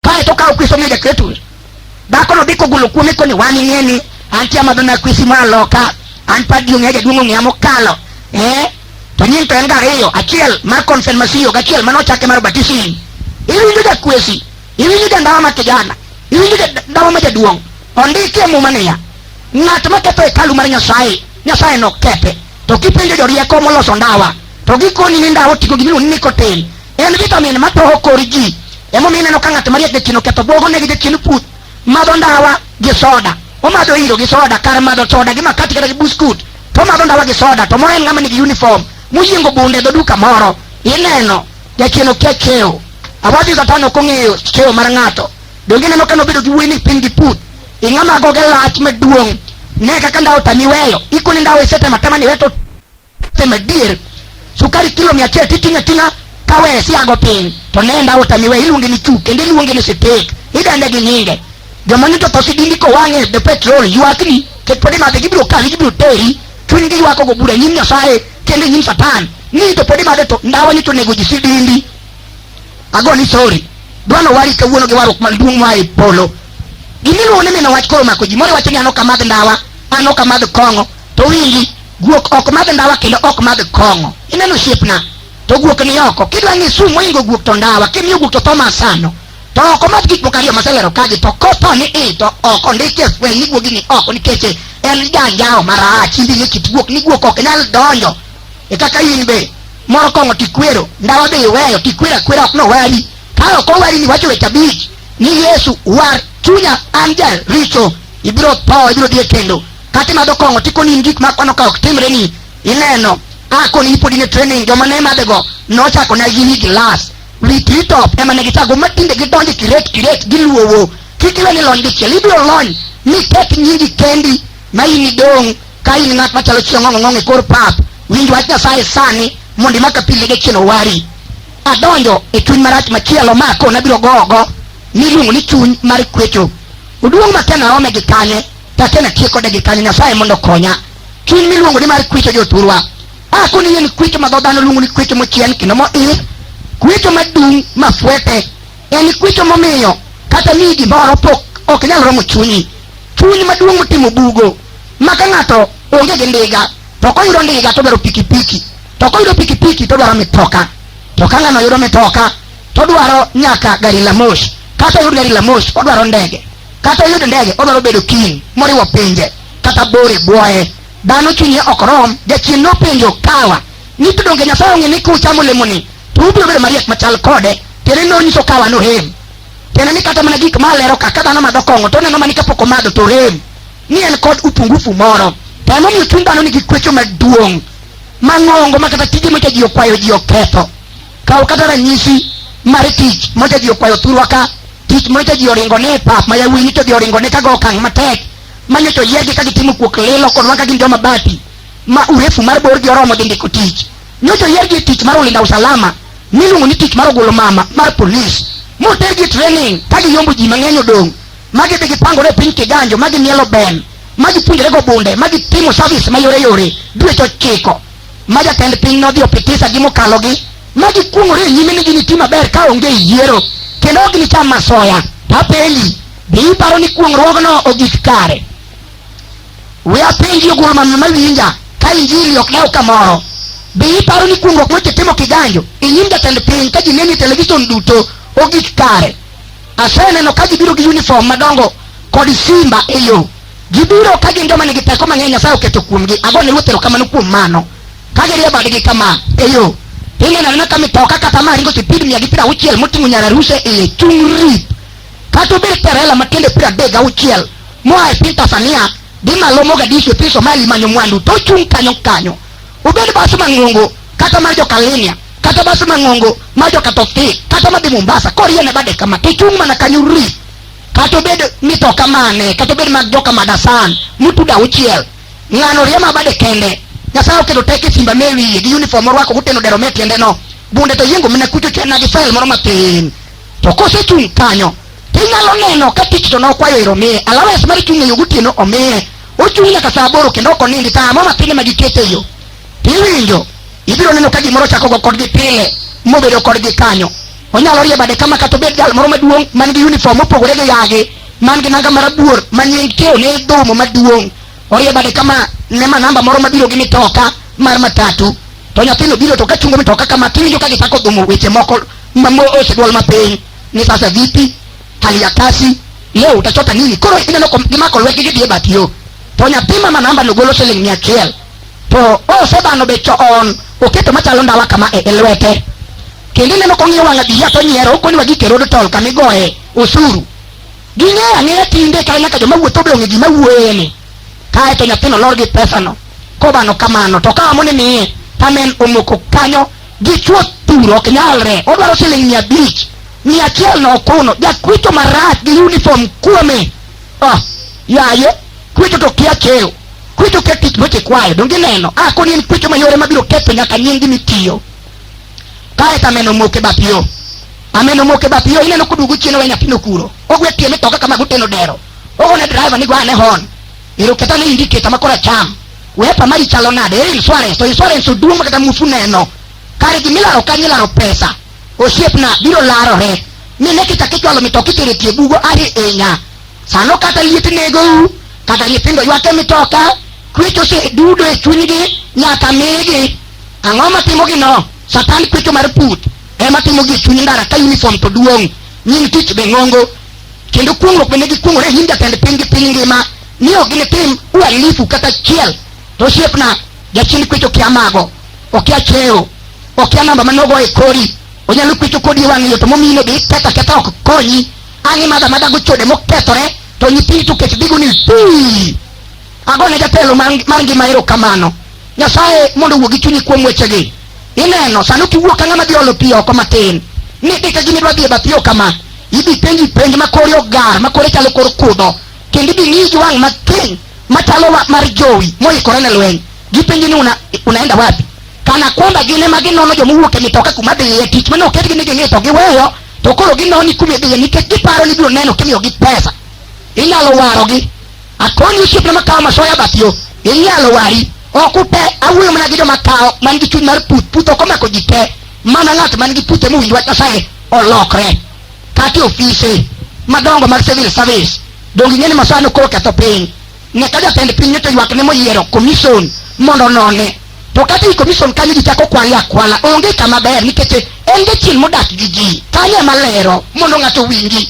Kae to ka okwiso miyo jakretu, dhakono dhi kogolo kuome koni wang'i ng'eni, antie amadho na kwisi ma loka, an padi ong'e jaduong' ong'eya mokalo. Eh? To nying to en ga ariyo, achiel mar konfirmasio gi achiel mane ochake mar batism. Iwinjo jakwesi, iwinjo jandawa ma kijana, iwinjo jandawa ma jaduong'. Ondiki e muma niya, ng'at ma ketho hekalu mar Nyasaye, Nyasaye nokethe. To kipenjo jorieko moloso ndawa, to gikoni ni ndawa oting'o gimiluongo ni nicotine. En vitamin ma toho kor ji. Emomiyo ineno ka ng'at mariek jachien oketho bwogo ne gi jachien puth. Madho ndawa gi soda. Omadho iro gi soda kar madho soda gi makati kata gi buskut. To omadho ndawa gi soda to moen ng'ama nigi uniform moyiengo bunde e dho duka moro. Ineno jachien okia kewo. Awadhi Satan ok ong'eyo kewo mar ng'ato. Donge ineno ka nobedo gi wuoyi ni piny gi puth. Ing'ama goge lach maduong'. Ne kaka ndawa otami weyo. Ikoni ndawa isetemo atema ni weto Tem adier, sukari kilo mia achiel titing'o ating'a kawe siago piny to nenda otamiwe iluonge ni chuk kendo iluonge ni sitik idende gi nyinge joma nito to sidindi kowang'e the petrol ywakni ket pod imadhe gibiro kawi gibiro teri chunygi ywako go bura e nyim nyasaye kendo e nyim satan ni to pod imadhe to ndawa ni to nego ji sidindi ago ni sorry dwano wari kawuono gi warruok maduong' moa e polo gimiluongo ni mino wach koro mako ji moro wacho ni an ok amadh ndawa an ok amadh kong'o to winji Guok ok madh ndawa kendo ok madh kong'o. Ineno osiepna? To guok ni oko. Kidwa ni sum moingo guok to ndawa, kimiyo guok to tho masano. To oko madh gik moko ariyo maselero kagi to kopo ni i to oko ndike fweny ni guogi ni oko nikech en janjawo marach imbi ni kit guok ni guok ok nyal donjo e kaka in be moro kong'o tikwero ndawa be iweyo tikwero akwera ok nowari ka ok owari ni wacho weche abich ni yesu war chunya an jaricho ibiro tho ibiro dhi e kendo kata imadho kong'o to ikoni in gik ma kwano ka ok timre ni ineno a koni ipodi ne training joma ne madhego nochako na gi wi gilas wi titop ema ne gichago ma tinde gidonjo kiret kiret giluowo kik iwe ni lony dichiel ibiro lony mi ket nyingi kendi ma in idong' ka in ng'at machalo chiong'ong'ong'ong' e kor pap winj wach nyasaye sani mondo imaka pile ge chien owari adonjo e chuny marach machielo ma akona biro gogo miluongo ni chuny mar kwecho oduong' ma kena ome gi kanye Take na tieko de gikani Nyasaye mondo konya. Chuny miluongo ni mar kwicho joturwa. A kuni yen kwicho ma dhodano luongo ni kwicho mochien kendo mo ir. Kwicho madung ma fwete. En kwicho momiyo kata ni gimoro pok ok nyal romo chunyi. Chuny maduong' motimo bugo. Ma ka ng'ato onge gi ndiga to koyudo ndiga to dwaro pikipiki. To koyudo pikipiki to dwaro mitoka. To ka ng'ano yudo mitoka to dwaro nyaka gari la moshi. Kata oyud gari la moshi odwaro ndege. kata oyud ndege odwaro bedo king moriwo pinje kata bore bwoye dhano chunye ok rom jachien nopenjo kawa ni to donge nyasaye ong'e ni kuchamo olemoni to ubiro bedo mariek machal kode tiende nonyiso kawa nohem tiende ni kata mana gik ma alero ka ka dhano madho kong'o to oneno mani kapok omadho to rem ni en kod upungufu moro to emomiyo chuny dhano nigi kwecho maduong' mang'ongo ma kata tije mocha ji okwayo ji oketho Kaw kata ranyisi mar tich moja ji okwayo thurwa ka, tich moja ji oringone e pap ma yawuoyi nyicho ji oringone ka go okang' matek, ma nyocha oyiergi ka gitimo kuok lilo kodwa ka gin joma bati, ma urefu mar borgi oromo dhi ndiko tich. Nyocha oyiergi e tich mar ulinda usalama miluongo ni tich mar ogolo mama mar polis, motergi e training ka giyombo ji mang'eny odong' ma gidhi gipangore e piny kiganjo ma gimielo ben ma gipuonjorego bunde ma gitimo service ma yore yore dweche ochiko. ma jatend piny nodhi opitisa gi mokalogi ma gikuong'ore e nyime ni giniti maber ka onge e yiero kendo ok ginicham masoya to apenji be iparo ni kuong'ruogno ogik kare we apenji ogul mamno mawinja ka injili ok lew kamoro be iparo ni kuong'ruok mosetimo kiganjo e nyim jatend piny ka ji neni e televison duto ogik kare aseneno ka gibiro gi uniform madongo kod simba e yo Gibiro ka gin joma nigi teko mang'eny Nyasaye oketo kuomgi. Ago ne Ruoth erokamano kuom mano. Ka girie badgi kama, e yo, ineno anena ka mitoka kata ma ringo sipid mia gi piero auchiel moting'o nyararuse iye chung' rip. Kata obed terela ma tiende piero adek gauchiel moa e piny Tanzania dhi malo Mogadishu e piny Somali manyo mwandu to ochung' kanyo kanyo. Obed bas mang'ongo kata mar jokalinia kata bas mang'ongo mar jokatofik kata madhi Mombasa koriene bade kama to ochung' mana kanyo rip. kata obed mitoka mane kata obed mag joka madasan mutuda auchiel ng'ano riema abade kende nyasaye oketo tek e simba me wiye gi uniform orwako guteno dero me tiende no bunde to yiengo mine kucho chena gi file moro matin to kosechung' kanyo tinyalo neno ka tich to nokwayo ero miye alawes mar chung' e yo gotieno omiye ochung' nyaka saa aboro kendo ok onindi saa mo matin ema gikete e yo tiwinjo ibiro neno ka gimoro chako go kodgi pile mobedo kodgi kanyo Onyalo rie bade kama kata obed jal moro maduong' man gi uniform mopogore gi yagi man gi nanga marabuor ma nying tiyo ne dhumo maduong' orie bade kama ne ma namba moro mabiro gi mitoka mar matatu to nyathino biro to kachungo mitoka kama tiwinjo ka gichako dhumo weche moko mamoose dwol mapiny ni sasa vipi hali ya kasi leo utachota nini koro ineno kom- gimako lwetgi gidhi e bath yo to nyathi ma manamba nogolo siling mia achiel to osebano be choon oketo machalo ndawa kama e e lwete kendo ineno kong'iyo wang' abiya to nyiero okoni wagike road toll kama igoye osuru ging'eyo ang'eya tinde kar nyaka joma wuotho be ong'e gima wuoyeni kae to nyathino lor gi pesano kobano kamano to kawa moni miye tanen omoko kanyo gichwo thuro ok nyalre odwaro siling mia abich ni achiel no kuno jakwicho marach gi uniform kuome oh, yaye kwicho to kia keyo kwicho kia tich weche kwayo donge neno ah koni en kwicho mayore mabiro ketho nyaka nyingi mitiyo kae to ameno moke bath yo ameno moke bath yo ineno koduogo chien owe nyathino kuro ogwe tie mitoka kama goteno dero ogone driver ni gwane hon ero keta ni indicator ma kora cham wepa mari chalo nade eri insurance to insurance oduong' ma kata mufu neno kare gimilaro kanyilaro pesa Osiepna biro larore mi ne kichak ichwalo mitoki tero e tie bugo ahinya. Sano kata liet negou, kata nyithindo ywak e mitoka, kwech osedudo e chunygi nyaka migi. Ang'o ma timogino? Satan kwecho mar put ema timogi e chuny ndara ka uniform to duong', nying tich be ng'ongo, kendo kuong'ruok bende gikuong'ore e nyim jatend piny gi piny ngima ni ok ginitim uhalifu kata achiel. To osiepna, jachien kwecho kia mago, okia cheo. okia namba mane ogo e kori onyalo kwecho kodi e wang' yo to momine be iketho aketha ok konyi ang' imadho amadha go chode mokethore to nyithindo to kech dhigo ni pii agone jatelo mar mar ngima erokamano nyasaye mondo owuo gi chunyi kuom wechegi ineno sani kiwuok ka ng'ama dhi olo pi oko matin ni dika gini dwa dhi e bath yo kama idhi penji penj ma kori ogar ma kori chalo kor kudho kendo idhi ng'iyi gi wang' matin machalo wa- mar jowi moikore ne lweny gipenji ni una, unaenda wapi Kana kwamba gin ema ginono joma owuok e mitoka kuma dhiye tich mane oketgi ni ging'e to giweyo to koro ginoni kuma idhiye nikech giparo ni biro neno kimiyogi pesa inyalo warogi akoni osiepna makawo masoya bath yo inyalo wari ok ute awuoyo mana gi joma kawo man gi chuny mar puth puth ok omako ji te mana ng'at man gi puth ema owinj wach nyasaye olokre kata e ofise madongo mag civil service donge ing'e ni masoya nokoro ketho piny nyaka jatend piny to ywak ne moyiero commission mondo none to kata i commission kanyo ji chako kwale akwala onge kama ber nikech en jachien modak gi ji kanyo ema lero mondo ng'ato owinji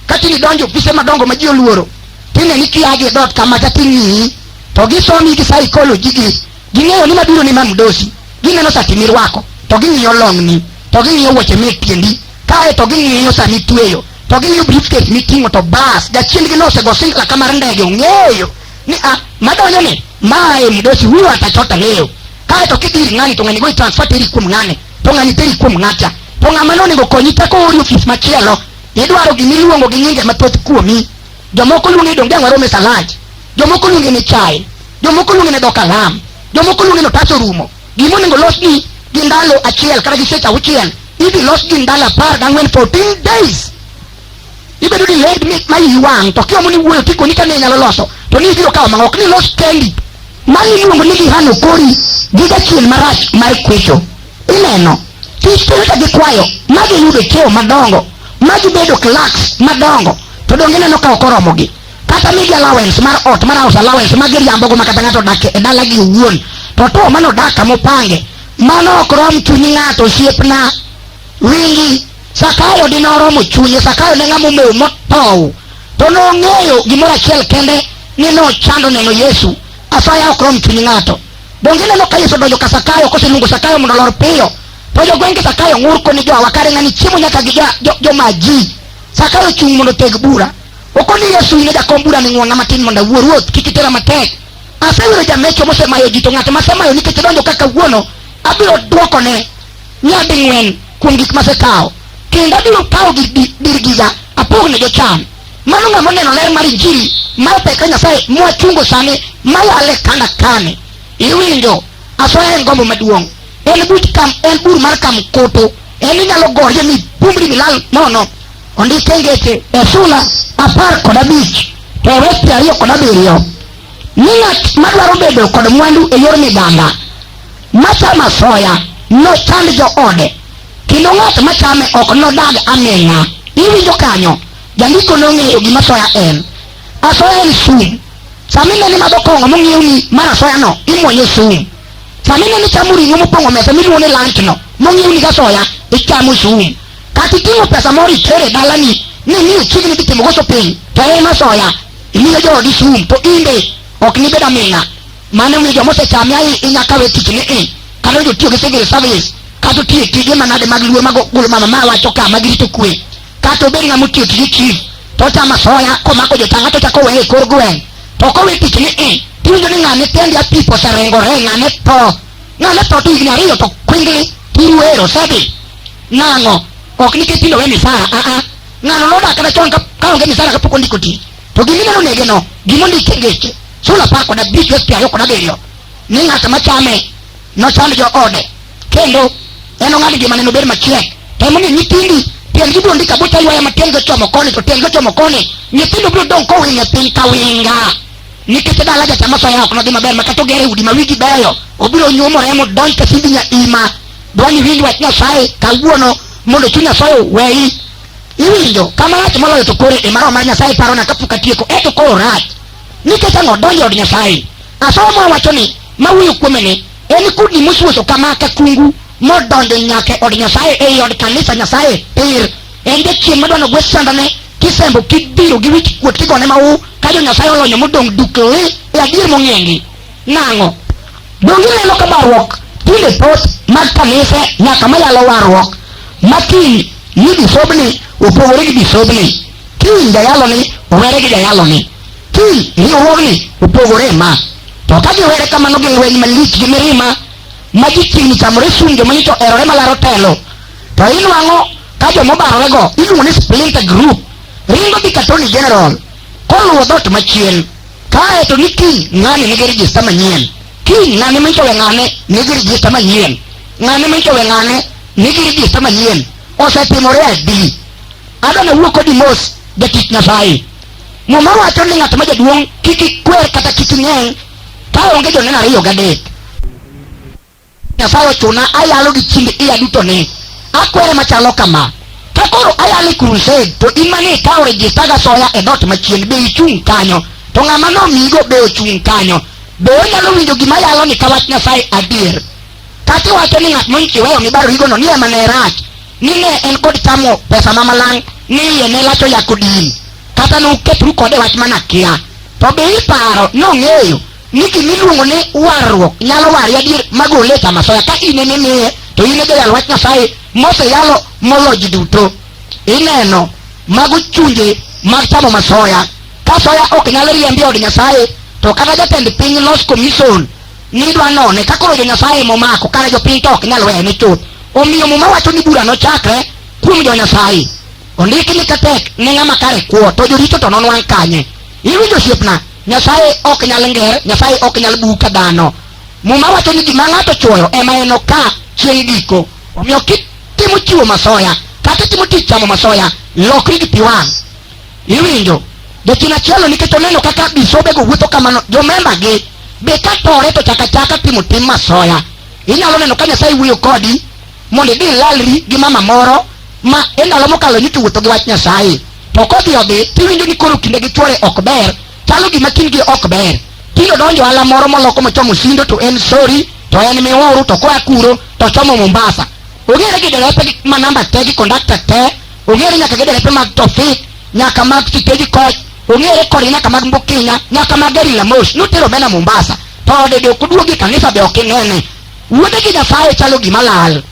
kata nidonjo ofise madongo ma ji oluoro tine ni kiagi e dot kama kata ing'iyi to gisomi gi psychology gi ging'eyo ni mabiro ni mamdosi gineno sati mirwako to ging'iyo long'ni to ging'iyo wuoche me tiendi kae to ging'iyo sami tweyo to ging'iyo briefcase miting'o to bas jachiendgi nosego singla ka mar ndege ong'eyo ni a madonjo ni ma e mdosi huyu atachota leo kaeto kidiri ng'ani to ng'ani go itransfer teri kuom ng'ane to ng'ani teri kuom ng'acha to ng'ama nonego konyi teko ori ofis machielo idwaro gima iluongo gi nyinge mathoth kuomi jomoko luonge donge ang'o rome salaj jomoko luonge ni chai jomoko luonge ni dokalam jomoko luonge ni otas orumo Gima onego los gi gi ndalo achiel kata gi seche auchiel idhi los gi ndalo apar gang'wen 14 days ibedo ni led mi ma iyi wang' to kiomo ni wuoyo tikoni kane inyalo loso to ni ibiro kawo mang'ok ni los kendi mani iluongo ni gihano kori gi jachien marach mar kwecho ineno titere ka gikwayo ma giyudo cheo madongo ma gibedo clerks madongo to donge ineno ka ok oromogi kata migi allowance mar ot mar house allowance ma giriambogo ma kata ng'ato odak e dalagi owuon to to mano odak kama opange mano ok rom chunyi ng'ato osiepna wingi sakayo dine oromo chunye sakayo ne ng'ama omewo motow to nong'eyo gimoro achiel kende ni nochando neno yesu asaya ok rom chunyi ng'ato donge ineno ka yesu odonjo ka sakayo koseluongo sakayo mondo olor piyo to jogwenge sakayo ng'ur koni joawa kare ng'ani chiemo nyaka gi jo- jo- jomaji sakayo chung' mondo teg bura Oko ni Yesu ile jakom bura ni ng'wona matin mondo awuo ruoth kik itera matek. Aseyudo jamecho mosemayo ji to ng'at masemayo nikech donjo kaka wuono abiro dwokone nyading'wen kuom gik masekawo kendo abiro kawo gir di- dir giga apogne jochan. Mano ng'ama oneno ler mar injili mar pek ka Nyasaye mwachungo sani malale kanda kane. Iwinjo asoya en gombo maduong'. En buch kam en bur mar kam kutu. En inyalo gorje mi bumri milal nono. Ondike ngeche e sula apar kod abich to e wes piero ariyo kod abiriyo ni ng'at madwaro bedo kod mwandu e yor miganda machamo asoya nochand joode kendo ng'at machame ok nodag aming'a iwinjo kanyo jandiko nong'eyo gima asoya en asoya en sum sama ineno imadho kong'o mong'iew ni mar asoyano imwonyo sum sama ineno ichamo ring'o mopong'o mesa miluongo ni lunch no mong'iew ni gasoya ichamo sum Kata iting'o pesa moro itero e dalani ni ni chiegni dhi timo goso piny to en asoya imiyo joodi sum to in be ok nibed aming'a. Mano omiyo joma osechame ahi inya kawe tich ni i kata jotiyo gi civil service kata otiyo tije manade mag luo mag golo mama ma wacho ka mag rito kwe kata obed ng'ama otiyo tije chief to ochamo asoya komako jotanga to chako weye e kor gweng' to kowe tich ni i tiwinjo ni ng'ane tendi apipo oseringore ng'ane tho ng'ane tho to higni ariyo to kwingli tiruero osedhi Nang'o? Ok nikech tinde owe misara, a a. Ng'ano nodak kata chon ka ka onge misara kapok ondiko ti. To gima ineno negeno, gima ondik e ngeche, sula apar kod abich wes piero ariyo kod abiriyo, ni ng'at ma chame nochand joode, kendo enong'ad ngimane nobed machiek. To emomiyo nyithindi tiendgi biro ndika buta ywaya ma tiendgi ochomo koni to tiendgi ochomo koni, nyithindo biro dong' kowinyo e piny ka winga. Nikech dala jachama soya ok nodhi maber ma kata ogere udi ma wigi beyo, obiro nyuomore modonj ka simbi nya ima. dwani winj wach nyasaye kawuono mondo chuny nyasaye oweyi iwinjo kama rach moloyo to koro e mano mar nyasaye parona kapok atieko eto koro rach nikech ang'o donjo od nyasaye asomo ma wacho ni mawuoyo kuome ni en kudni mosuoso kama ka kungu modonjo nyaka e od nyasaye ei od kanisa nyasaye pir en jachien madwano gwe sandane kisembo kibiro gi wich kuot kigone mau ka jo nyasaye olonyo modong' dukli e adier mong'engi Nang'o? Donge ineno ka barruok tinde thoth mag kanise nyaka mayalo warruok ma kiny ni bisobni opogore gi bisobni, kiny jayaloni owere gi jayaloni, kiny riwruogni opogore ma. To ka giwere kamano gi lweny malich gi mirima ma ji chiegni chamore sum joma nyicho erore malaro telo, to inwang'o ka joma obarorego iluongo ni splinter group ringo dhi ka Attorney General koluwo dhoot machien. kae to ni kiny ng'ani nigi rijista manyien kiny ng'ani michowe ng'ane nigi rijista manyien ng'ani michowe ng'ane nigi rijista manyien osetimore adi adwa nawuo kodi mos jatich nyasaye muma wacho ni ng'at ma jaduong' kik ikwer kata kik ing'eng' ka onge joneno ariyo gadek Nyasaye ochuna ayalo gi chiemb iya duto ni akwere machalo kama ka koro ayalo e crusade to in mane ikawo rejista ga soya e dot machien be ichung' kanyo to ng'ama nomigo be ochung' kanyo be onyalo winjo gima yalo ni ka wach Nyasaye adier kata iwacho ni ng'at monchiweyo mibaro higono ni ema ne rach ni ne en kod chamo pesa ma malang' ni iye ne lacho yako din kata ne uketru kode wach mana kia to be iparo nong'eyo ni gima iluongo ni warruok nyalo wari adier magole e kama soya ka in ema imiye to in e jayal wach nyasaye moseyalo molo ji duto ineno mago chunje mag chamo masoya ka soya ok nyal riembi e od nyasaye to kata jatend piny los commission nidwa none ka koro jo-nyasaye momako kare jopiny to ok nyal wene chuth omiyo muma wacho ni bura nochakre kuom jo-nyasaye ondiki ni katek ne ng'ama kare kuo to joricho to nonwang' kanye iwinjo osiepna Nyasaye ok nyal nger, Nyasaye ok nyal buu ka dhano. Muma wacho ni gima ng'ato chuoyo ema enoka chieng' giko. Omiyo kitimo chiwo masoya kata itimo tich chamo masoya, lokri gi pi wang'. Iwinjo? Jachien achielno nikech oneno kaka bisobego wuotho kamano, jomembagi be ka tore to chaka chaka timo tim masoya. Inyalo neno ka Nyasaye wuoyo kodi mondo idhi ilalri gi mama moro ma e ndalo mokalo nyikiwuotho gi wach Nyasaye. To kodhi odhi, tiwinjo ni koro kinde gi chwore ok ber, chalo gima kindgi ok ber. Tino donjo ala moro moloko mochomo Sindo to en Sori, to en Miuru, to koa kuro to ochomo Mombasa. Ong'ere gi derepe gi- ma namba te gi kondakta te, ong'ere nyaka gi derepe mag Tofik, nyaka mag Siteji Koch, ong'ere kod nyaka mag Mbukinya, nyaka mag Gari la Moshi, notero bena Mombasa. To ode be ok oduogi kanisa be ok inene. Wuode gi Nyasaye chalo gima lal.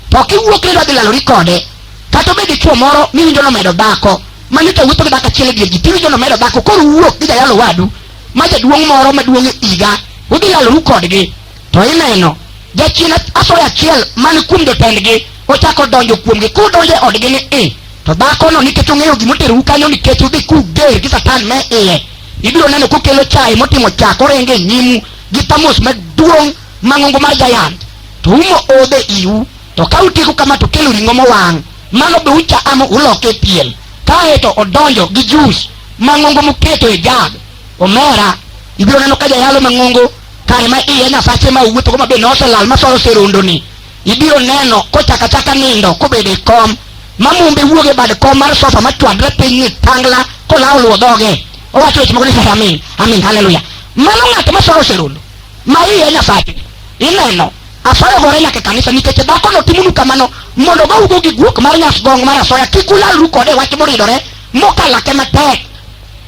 To kiwuok ni idwa dhi lalori kode, kata obed dichuo moro miwinjo nomedo dhako mane to wuotho gi dhako achiel e dier ji tiwinjo nomedo dhako koro wuok gi jayalo wadu ma jaduong' moro maduong' e higa udhi yaloru kodgi to ineno jachien asoya achiel man kuom jotendgi ochako donjo kuomgi kudonjo e odgi ni i to dhakono nikech ong'eyo gima oterou kanyo nikech udhi kuger gi satan me iye ibiro neno kokelo chaye motimo chak orenge nyimu gi thamos maduong' mang'ongo mar jayant to umo odhe iu To ka utieko kama to kelo ring'o mowang', mano be uchamo uloke e pien. Kae to odonjo gi jus mang'ongo moketo e jag. Omera, ibiro neno ka jayalo mang'ongo kare ma iye nyasache ma owuothogo ma be noselal ma solo serondoni. Ibiro neno kochako achaka nindo kobedo e kom ma mumbe wuok e bad kom mar sofa ma chwadre piny ni tangla kolawo luwo dhoge. Owacho weche moko ni sasa amin, amin, haleluya. Mano ng'at ma solo serondo. ma iye nyasache ineno asoyo gore nyaka e kanisa nikech dhako no timonu kamano mondo gougo gi guok mar nyasgong mar asoya kik ulalru kode wach moridore mokalake matek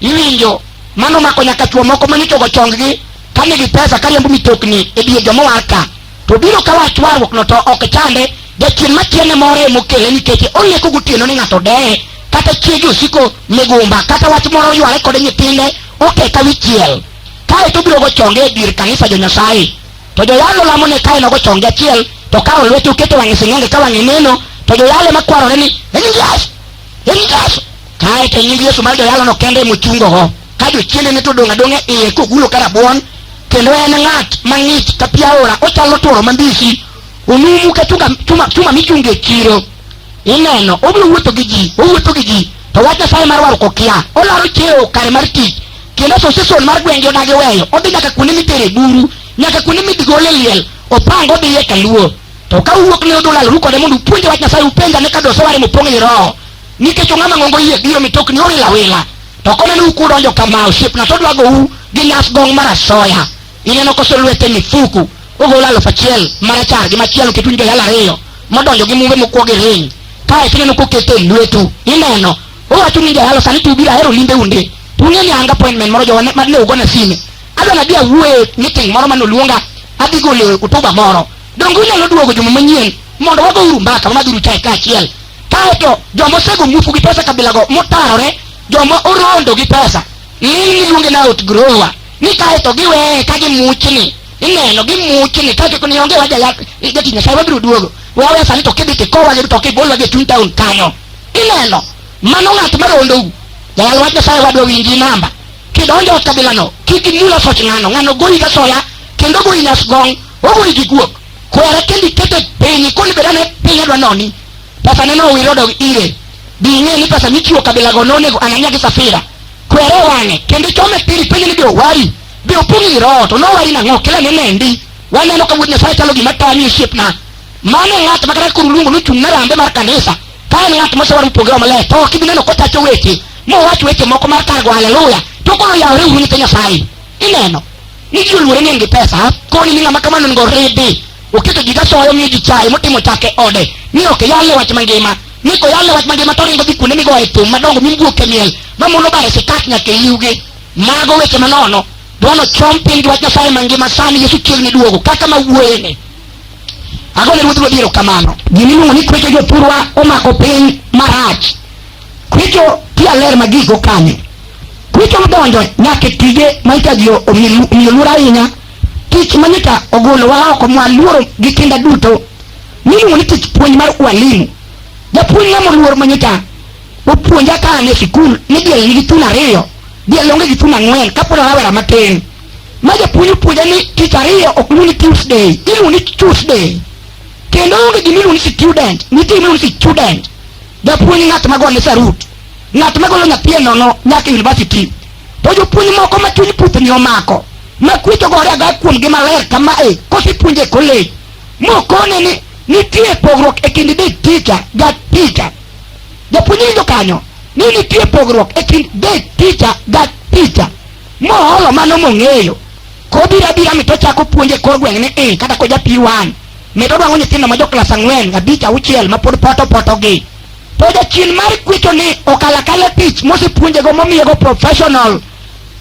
iwinjo mano mako nyaka chuo moko manyichogo chonggi ka nigi pesa ka riembo mitokni e dier joma war ka to biro ka wach warruok no to ok chande jachien machiene moro emokele nikech olieko gotieno ni ng'ato deye kata chiege osiko migumba kata wach moro oyware kode nyithinde okeka wichiel kae to obiro gochonge e dier kanisa jo nyasaye to joyalo lamone kae nogochonge achiel to kawo lwete oketo wang'e sing'enge ka wang'e neno to joyalo makwarore ni en yesu en yesu kae to nying yesu mar joyalono kende mochungogo ka jochiende ne to odong' adong'a iye kogulo ka rabuon kendo en ng'at mang'ich ka pi aora ochalo tworo mambisi onumu ka chunga- chuma- chuma michungo e chiro ineno obiro wuotho gi ji owuotho gi ji to wach nyasaye mar warruok okia olaro chiewo kare mar tich kendo association mar gwenge odagi weyo odhi nyaka kuonde mitere buru nyaka kuonde midgole liel opang odhiye kaluo to ka uwuok ne odula lru kode mondo upuonje wach nyasaye upenja ne ka dosoware mopong' i roho nikech ong'ama ng'ongo yie biyo mitokni owil awila to koneno ukudonjo kama osiepna to odwa gou gi nyas gong' mar asoya ineno koso lwete mifuku ogolo alufu achiel marachar gi machielo ketu njoyal ariyo modonjo gi mumbe mokwo gi ring kae tineno kokete e lwetu ineno Owacho ni jayalo sani to ubiro ahero limbe unde. Ung'e ni anga appointment moro jowa ma ne ugona sime. Adwa nadhi awuoye meeting moro mane oluonga adhi golo kutuba moro. Donge unyalo duogo juma manyien mondo wagouru mbaka wamadhuru chae kaachiel. Kae to joma osego mufu gi pesa kabilago motarore joma orondo gi pesa ng'eny giluonge na out grower ni kae to giweye ka gimuchni ineno gimuchni kae to ni onge waja jatich nyasaye wabiro duogo wawe sani to kidhi kikowa gi to kibolwa gi e chuny town kanyo ineno mano ng'at ma rondou jawal wach nyasaye wadwa winji namba kidonjo e kabilano kik imul asoch ng'ano ng'ano goyi gasoya kendo goyi nyasgong ogoyi gi guok kwere kendo ikete piny koni beda ne piny adwa noni pesa neno owir odog ire bi ing'e ni pesa michiwo kabilago nonego ananya gi safira kwere wang'e kendo ichome piny ipenje ni be owari be opong' i roho to nowari nang'o kila ne nendi waneno ka wuod nyasaye chalo gima tami osiepna Mano ng'at ma kata koro luongo ni ochung' ne rambe mar kanisa, ka en ng'at mosewar mopogore maler, to ok ibi neno kotacho weche, mowach weche moko mar kar go haleluya, to koro yawore uru nyithi Nyasaye. Ineno? Ni ji oluore ni en gi pesa, koni ni ng'ama kamano onego oridi. Oketo ji gasoyo, omiyo ji chaye, motimo chak e ode, ni ok yalne wach mangima. Ni koyalne wach mangima to oringo dhi kuonde migoye thum madongo mimbuok e miel, ma mondo obare sikat nyaka e iwgi. Mago weche manono. Dwano chom piny gi wach Nyasaye mangima sani Yesu chiegni duogo, kaka ma wuoyeni. Agone Ruoth Ruodhi erokamano. Gima iluongo ni kwecho jopurwa omako piny marach. Kwecho ti aler ma gigo kanyo. Kwecho odonjo nyaka e tije ma ita ji omiyo luor ahinya. Tich ma nyita ogolowa oko mwa luoro gi kinda duto. Miluongo ni tich puonj mar walimu. Japuonj ng'ama oluor ma nyita opuonja ka an e sikul ni diel nigi thuno ariyo, diel onge gi thuno ang'wen kapod an rawera matin. ma japuonj opuonja ni tich ariyo ok lu ni tuesday ilu ni tuesday kendo onge gima ilu ni student nitie ilu ni student japuonj ng'at ma gone sarut ng'at ma golo nyathi e nono nyaka university to jopuonj moko ma chuny puthni omako ma kwecho gore aga kuomgi maler kama e kosepuonje e college mokone ni nitie pogruok e kind day teacher ga teacher japuonj winjo kanyo ni nitie pogruok e kind day teacher ga teacher moholo mano mong'eyo kobiro abira mi tochako puonjo e kor gweng' ni i kata ko ja P1 mi todwang'o nyithindo ma jo klas ang'wen abich auchiel ma pod poto potogi to jachien mar kwecho ni okalo akala tich mosepuonjego momiyego professional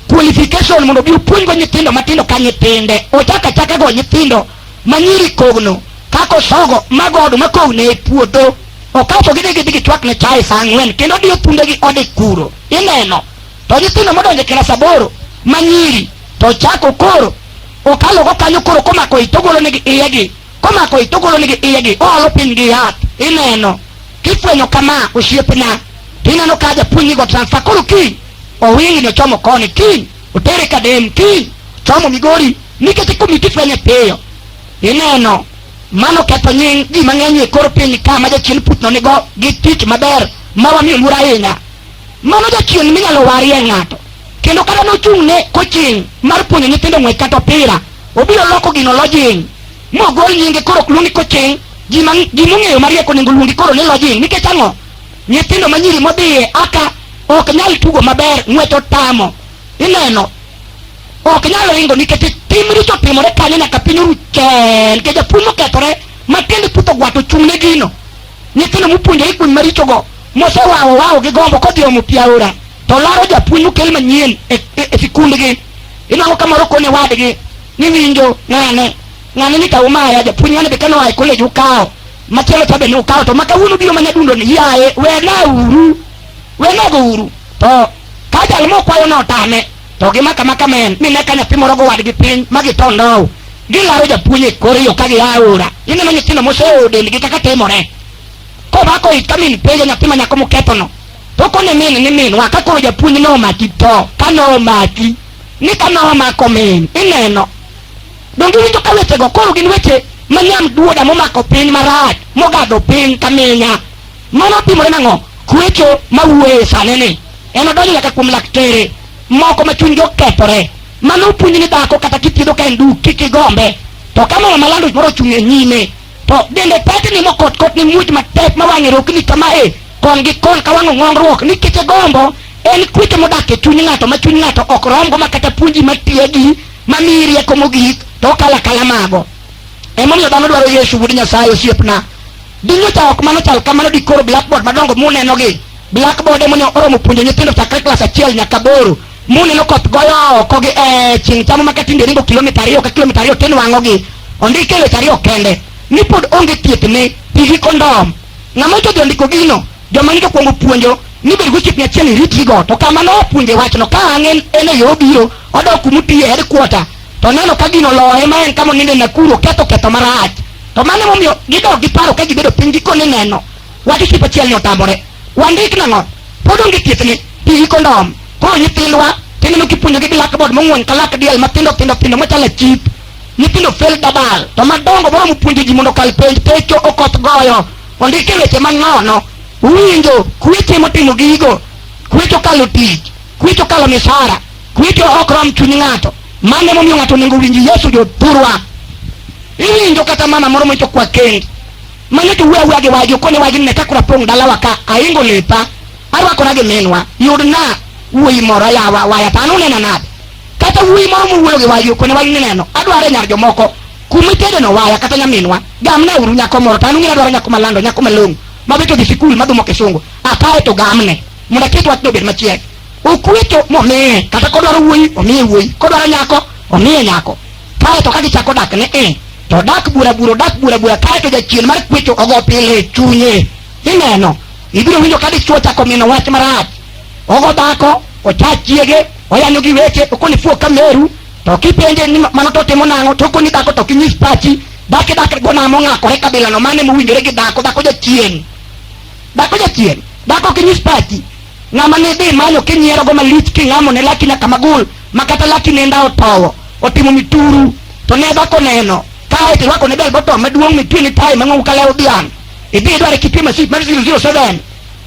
qualification mondo obi opuonjgo nyithindo matindo ka nyithinde ochako achaka go nyithindo ma nyiri kogno kako sogo mago oduma kogno e puodho okaw to gidhi gidhi gichwakne chae saa ang'wen kendo odiyo thundegi ode kuro ineno to nyithindo modonjo e kilas aboro ma nyiri to chako koro okalo go kanyo koro komako ich togolo nigi iyegi komako ich togolo nigi iyegi oolo piny gi yath ineno kifwenyo kama osiepna to ineno ka japuonj nigo transfer koro kiny owingi ni ochomo koni kiny otere kadem kiny chomo migori nikech ikomiti fwenye piyo ineno mano ketho nying ji mang'eny e kor piny ka ma jachien putno nigo gi tich maber ma wamiyo luor ahinya Mano jachien minyalo warie ng'ato. Kendo kata nochung' ne koching' mar puonjo nyithindo ng'wech kata opira, obiro loko gino lojing', mogol nyinge koro ok luong ni koching'. Ji ma ji mong'eyo mariek onego luongi koro ni lojing'. Nikech ang'o? Nyithindo ma nyiri modhiye aka ok nyal tugo maber, ng'wech otamo. Ineno? Ok nyal ringo nikech tim richo otimore kanyo nyaka piny oru chel. Nikech japuonj mokethore ma tiende puth ogwato ochung' ne gino. Nyithindo mopuonjore kuny marichogo mosewawo wawo gi gombo kodhi omo pi aora to laro japuonj mokel manyien e, e, e sikundgi inwango ka moro kone wadgi ni winjo ng'ane ng'ane ni kawo maya japuonj ng'ane be kane oa e kolej ukawo machielo cha be ne ukawo to ma kawuono biro mana dundo ni yaye wena uru wena go uru to ka jal mokwayo notame to gimaka maka men ni ne ka nyathi moro gowadgi piny ma githo ndow gilaro japuonj e kor yo ka gia aora ineno nyithindo moseoyo dendgi kaka timore komako it ka min penjo nyathi ma nyako mokethono to kone min ni minwa ka koro japuonj nomaki tho ka nomaki ni ka nomako min ineno donge winjo ka wechego koro gin weche manyam duoda momako piny marach mogadho piny ka minya Mano otimore nang'o? Kwecho ma wuoye sani ni en odonjo nyaka kuom laktere moko ma chunygi okethore. Mano opuonj ni dhako kata kithiedho ka en duk kik igombe. To ka mama malando moro ochung' e nyime to dende tetni mokot kot ni muoch matek ma wang'e rokni kama e kon gi kon ka wang'o ng'ongruok ni kete gombo en kwecho modak e chuny ng'ato ma chuny ng'ato ok romgo ma kata puonji ma tiegi ma miyi rieko mogik to okala kala mago. Emomiyo dhano dwaro Yesu wuod Nyasaye osiepna. Dinyocha ok mano chal kamano dikoro blackboard madongo muneno gi. Blackboard emo ne oromo puonjo nyithindo chakre klas achiel nyaka boro. Muneno koth goyo oko gi eh, chieng' chamo maka tinde ringo kilomita ariyo ka kilomita ariyo tinwang'o gi. Ondike weche ariyo kende. Ni pod onge thieth ne tigi kondom. Ng'ama ochodhi ondiko gino, joma nigi okwongo puonjo ni bed gochip nyachiel iritri go. To kamano opuonje wachno ka ang'e en e yo obiro, odok kumutiye headquarter to neno ka gino loye ma en kama oninde e Nakuru ketho ketho marach to mano emomiyo gidok giparo ka gibedo piny gikone neno wadi tipo achiel ni otamore wandik nang'o pod onge thiethne pigi kondom koro nyithindwa tineno kipuonjogi gi lakbod mong'wen ka lak diel matindo tindo tindo machalo chip nyithindo fel dabal to madongo moro mopuonjo ji mondo kal penj pecho okoth goyo ondike weche manono winjo kweche motimo gigo kwecho kalo tich kwecho kalo misara Wito ok rom chuny ng'ato. Mano emomiyo ng'ato onego owinj Yesu jothurwa. Iwinjo kata mama moro moito kwa kend. Mano to wuo awuoya gi wagi okone wagi ne ka kura pong' dalawa ka ahingo lepa arwakora gi minwa yudna wuoyi moro yawa waya to an unena nade kata wuoyi moro mowuoyo gi wagi okone wagi ni neno adwaro e nyar jomoko kuma itedeno waya kata nyaminwa gamna uru nyako moro to an ung'e adwaro nyako malando nyako malong'o mabeto dhi sikul madhumo kisungu akae to gamne mondo aket wachno obed machiek Okweto momiye kata kodwaro wuoyi omiye wuoyi, kodwaro nyako omiye nyako. Kae to ka gichako dak ne e to odak bura bura odak bura bura kae to jachien mar kwecho ogo pile e chunye. Ineno, ibiro winjo ka dichwo ochako mino wach marach. Ogo dhako, ocha chiege, oyanyo gi weche, okoni fuo ka meru, to kipenje ni ma- mano to timo nang'o, to okoni dhako to kinyis pachi, dhaki dhaki go namo ng'akore kabilano mane mowinjore gi dhako, dhako jachien. Dhako jachien, dhako kinyis pachi. Ng'ama ne dhi manyo kinyierogo malich king'amo ne laki nyaka magul ma kata laki nenda otowo otimo mituru to ne dhako neno kae to irwako ne bel bottom maduong' mitwe ni tai mang'owu ka lew dhiang' idhi idware kitwe masit mar 007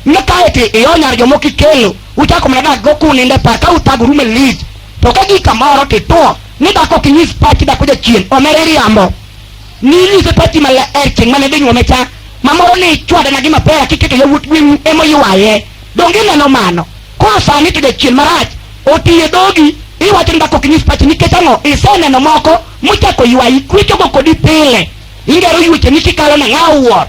ma kae to ionyar jomoko ikelo uchako mana dak go kuninde par ka uthagoru malich to ka gi kamoro tituo ni dhako ok inyis pachi dhako jachien omere riambo Ninyise pachi maler chieng' mane dhi nyuome cha, ma moro ni ichwadana gi mapera kiketo yawuot gweng'u ema oywaye. Donge ineno mano? Koro sani to jachien marach oti e dhogi, iwacho ni dak ok inyis pachi nikech ang'o? Iseneno moko mochako ywayi, kwechogo kodi pile. Ingero yuecheni kikalo na ng'a owuoro,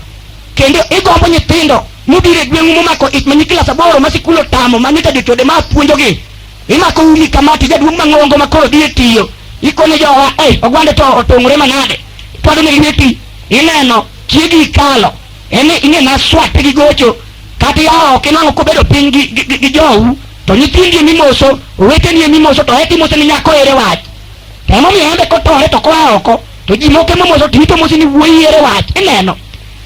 kendo igombo nyithindo mobiro e gweng'u momako ich ma nyi klas aboro ma sikul otamo ma nyocha jochode ma puonjogi Imako umi kama to jaduong' mang'ongo ma koro dhi e tiyo. Ikone jowa, eh, ogwande to otong'ore manade. Twado ne lweti, ineno, chiegi ikalo. En ni ing'e na swat gi gocho. Kata yawo ok inwang'o kobedo piny gi, gi, gi, gi jou. To nyithindi e mimoso, oweteni e mimoso, to eti mose ni nyako ere wach. To emomiyo embe kotore to koa oko, to ji moko emomoso to ito mose ni wuoyi ere wach. Ineno,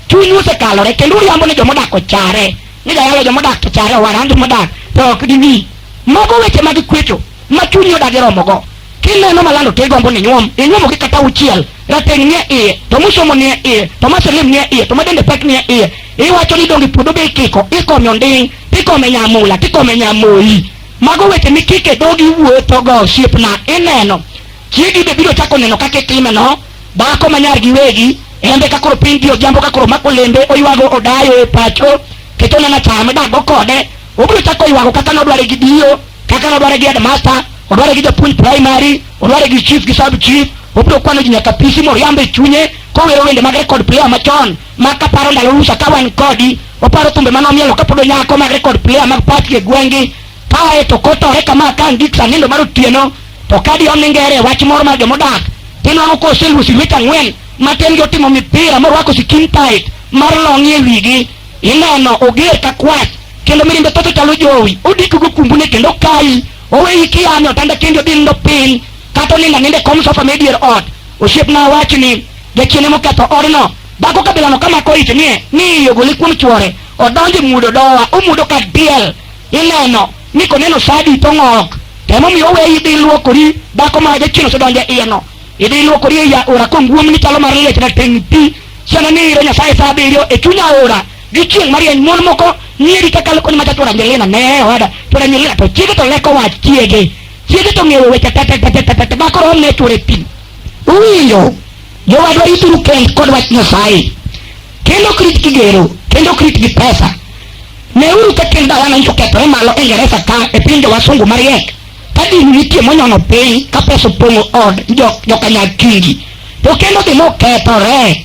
chunyu osekalore kendo uriambo ni joma odak ochare. ni jayalo joma odak to chare owara an joma odak to ok dimi mago weche mag kwecho ma chunyi odagi romogo kineno malando to igombo ni nyuom inyuomo gi kata uchiel rateng' nie iye to musomo nie iye to maselim nie iye to madende pek nie iye iwacho ni donge puodho be ikiko ikome onding' tikome nyamula tikome nyamoyi mago weche mikike dhogi wuothogo osiepna ineno Chiegi be biro chako neno kaka itime no, dhako ma nyar giwegi, embe ka koro piny dio jambo ka koro mako lembe oywago odayo e pacho, keto nana chame dago kode, obiro chako ywago kaka nodware gi dio, kaka nodware gi headmaster, odware gi japuonj primary, odware gi chief gi sub chief, obiro kwano ji nyaka pisi moriambe chunye kowero wende mag record player machon ma kaparo ndalo rusa ka wan kodi oparo thumbe manomielo kapod onyako mag record player mag pati e gwengi Kae to kotore kama ka an gi sanindo mar otieno to ka di oningere wach moro mar jomodak tinwang'o ka oseluosi lwet ang'wen matin gi otimo mipira morwako sikin tait mar long'i e wigi ineno oger ka kwach kendo mirimbe toto chalo jowi odiko go kumbune kendo kayi oweyi kiyame otanda kendi odhi nindo piny kata onindo aninde kom sofa me dier ot osiepna wachi ni jachiene moketho odno dhako kabilano kamako ich nie ni iye ogole kuom chwore odonje mudo dowa omudo ka diel Ineno ni koneno sa adi to ng'ok. Tem omiyo oweyi idhi iluokori, dhako ma jachien osedonjo e iyeno. Idhi iluokori e aora kong'womni chalo mar liech na teng' pi. Siano ni iro Nyasaye sa abiriyo e chuny aora gi chieng' marieny mon moko nyiri kakalo koni macha chwora Angelina ne owada chwora Angelina to chiege to leko wach chiege chiege to ng'eyo weche tetetetetete ma koro omne chwore pi uwinjo jowadwa rituru kend kod wach Nyasaye kendo ok rit gi gero kendo ok rit gi pesa Neuru kaka en dhawana nyiso kethore malo e Ingereza ka e piny jowasungu mariek ka dini nitie monyono piny ka pesa opong'o od jokanyakingi to kendo dhi mokethore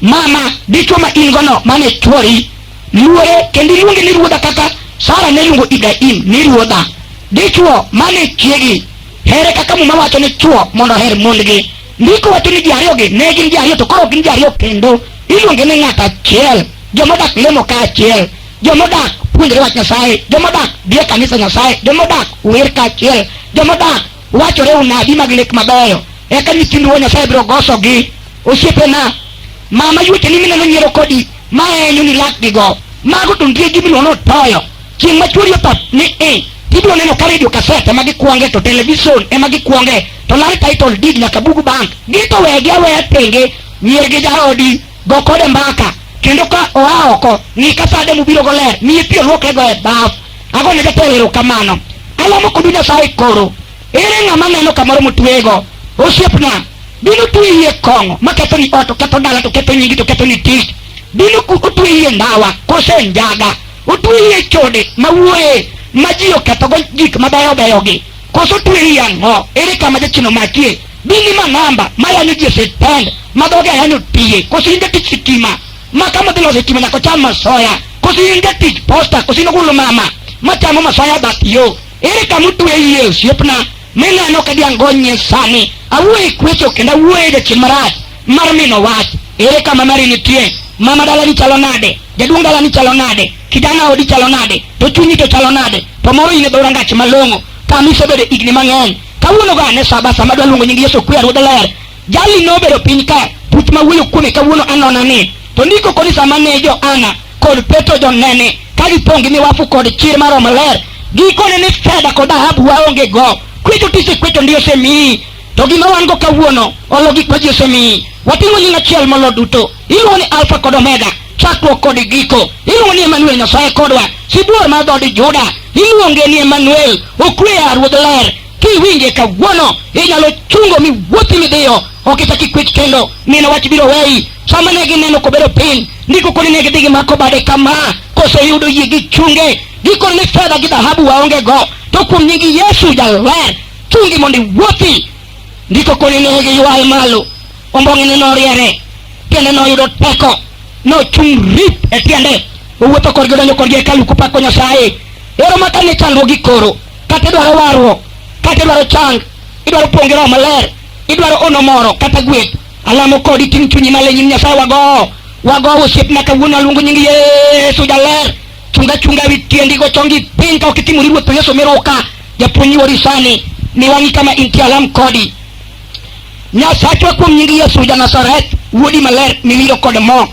mama dichwo ma in gono mane chwori luore kendo iluonge ni ruodha kaka sara ne luongo ibrahim ni ruodha dichwo mane chiegi here kaka muma wacho ni chwo mondo oher mondgi Ndiko wacho ni ji ariyogi ne gin ji ariyo to koro ok gin ji ariyo kendo. Iluonge ni ng'at achiel. Joma odak lemo ka achiel. Joma odak puonjore wach Nyasaye. Joma odak dhi e kanisa Nyasaye. Joma odak wer ka achiel. Joma odak wachore unabi mag lek mabeyo. Eka nyithind Wuo Nyasaye biro gosogi. Osiepena, mama yuoteni mineno nyiero kodi, ma enyoni lakgigo. Mago to nitie gimiluongo ni otoyo. chieng' ma chwori otho ni i ibiro neno ka redio kaset ema gikwonge to television ema gikwonge to lari title deed nyaka bug bank gito wegi aweya tenge mier gi jaodi go kode mbaka kendo ka oa oko ng'i ka sade mubiro go ler miye pi olwokrego e baf ago ne jatelo erokamano alamo kodu nyasaye koro ere ng'ama neno kamoro motweyego osiepna bino twe yie kong'o ma ketho ni ot to ketho dala to ketho nyingi to ketho ni tich bino ku- otwe yie ndawa kose njaga Otweyi e chode ma wuoye ma ji okethogo gik mabeyo beyogi. Koso otweyi ang'o? Ere kama jachino makie? Bini ma namba ma yanyo ji e sitend ma dhoge ayanyo tiye. Koso in jatich sitima ma kama dhi loso sitima nyaka ocham masoya. Koso in jatich posta. Koso in ogulu mama ma chamo masoya bath yo. Ere kama otweyi e osiepna? Mineno ka diango nyie sani. Awuoye kwecho kendo awuoye jachien marach. mar mino wach ere kama mari nitie mama dalani chalo nade jaduong' dalani chalo nade kijana odi chalo nade to chunyi to chalo nade to moro in e dho rangach malong'o kama isebedo higni mang'eny kawuono go ane saba sama adwa luongo nying yesu kwe ruodh ler jali nobedo piny ka puch ma wuoyo kuome kawuono anona ni to ndiko koni sama ne jo ana kod petro jonene ka gipong' gi miwafu kod chir mar romo ler gikone ni fedha kod dhahabu waonge go kwecho tisekwecho ndi osemiyi To gima wan go kawuono olo gik ma ji osemiyi. Wating'o nying achiel molo duto. Iluongo ni Alfa kod Omega, chakruok kod giko. Iluongo ni Emanuel, Nyasaye kodwa. Sibuor mar dhood Juda, iluonge ni Emanuel, okweya Ruodh Ler. Kiwinje kawuono, inyalo chungo miwuothi midhiyo. Ok ichak ikwech kendo, neno wach biro weyi. Sama ne gineno kobedo piny, ndiko koni ne gidhi gimako bade kama, koseyudo yie gichunge. Gikone ni fedha gi dhahabu waonge go, to kuom nying Yesu jaler, chungi mondo iwuothi ndiko koni ne giywaye malo ombong'ene noriere tiende noyudo teko nochung' rip e tiende owuotho korgi odonjo korgi hekalu kopako nyasaye ero ma kane chandruogi koro kata idwaro warruok kata idwaro chang idwaro puonj roho maler idwaro ono moro kata gweth alamo kodi ting' chunyi malo e nyim nyasaye wago wago osiepna kawuono aluongo nying yesu jaler chunga chunga witiendi go chongi pinka okitimo riwo to Yesu meroka japuonyi wori sani ni wangi kama inti alam kodi Nyasachwa kuom nyingi Yesu ja Nazareth wuodi maler miwiro kod mo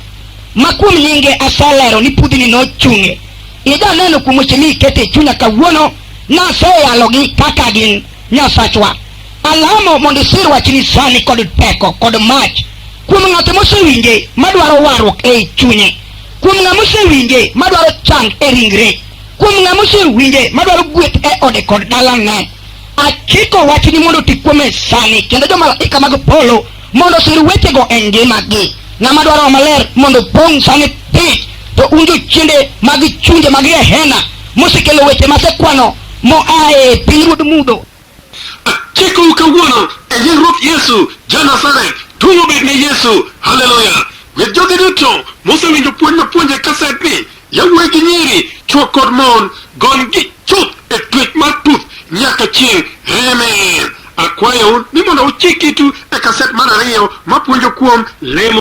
ma kuom nyinge aselero ni pudhi ni nochunge ija neno kuom weche ni ikete chunya kawuono naseyalogi kaka gin Nyasachwa alamo mondo isir wachni sani kod teko kod mach kuom ng'ato mosewinje madwaro warruok ei chunye Kuom ng'a mosewinje madwaro chang e ringre, kuom ng'a mosewinje madwaro gweth e ode kod dalane, achiko wachni mondo oti kuome sani, kendo jomalaika mag polo mondo osir wechego e ngimagi. Ng'ama dwaro maler mondo opong' sani piny, to un jochiende mag chunje mag Gehena mosekelo weche masekwano moa e pinyruodh mudho Achiko kawuono e nying Ruoth Yesu ja Nazareth, duong' obed ne Yesu. Haleluya! With jogi duto mosewinjo puonj mapuonje kasedni, yawuoyi gi nyiri, chwo kod mon, gony gi chuth e twech mar tuth nyaka chieng'. Amen. Akwayou ni mondo uchik itu e kaset mar ariyo mapuonjo kuom lemo.